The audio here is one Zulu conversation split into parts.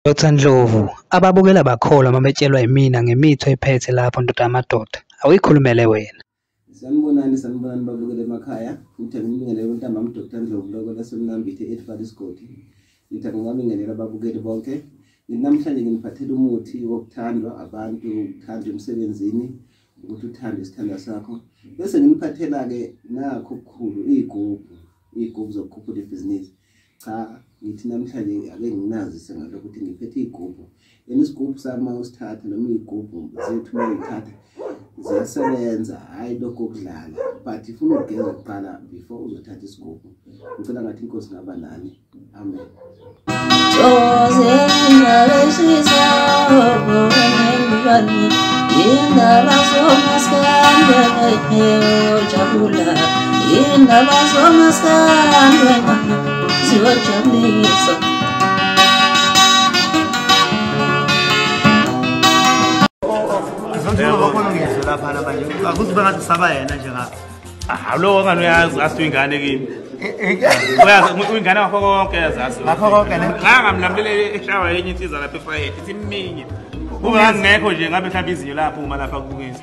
Dr Ndlovu, ababukela bakholwa uma betshelwa yimina ngemitho ephethe lapho ndoda yamadoda. Awuyikhulumele wena. Sanibonani sanibonani babukele emakhaya. Ngithe ngimngenele uNtambama uDr Ndlovu lokho lasemnambithe eThwala isigodi. Ngithe ngingabingelela ababukeli bonke. Namhlanje nginiphathela umuthi wokuthandwa abantu, ukuthandwa emsebenzini, ukuthi uthande isithandwa sakho. Bese nginiphathela-ke nakho okukhulu, iy'gubhu, iy'gubhu zokukhuphula ibhizinisi. cha ngithi namhlanje ake nginazise ngalokho ukuthi ngiphethe iy'gubhu yena isigubhu sami uma usithatha noma iy'gubhu zethu uma uyithatha ziyasebenza hhayi lokho okudlala but ifuna ukugeza kuqala before uzothatha isigubhu ngicela ngathi inkosi ngaba nani amen Indaba somaskanda, hey, hey, oh, jabula. indaba zomaskandi wena ziyojabulisa akuzibe ngathi usaba yena nje ngapha hawu lowo ngani uyazi ngathi uyingane kimi uyingane ngakho konke yazazi ngakho konke ne ngangamlamlele eshawa yenye insiza lapha efayethe ithi minye kungangekho nje ngabe mhlawumbe izinyo lapho uma lapha kubukisa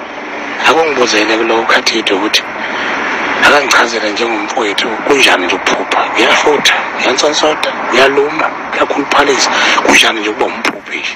akungibuzele kulowo khathide ukuthi akangichazele njengomfowethu kunjani nje ukuphupha uyafutha uyansonsoda uyaluma uyakhuluphalisa kunjani nje ukuba umphuphi nje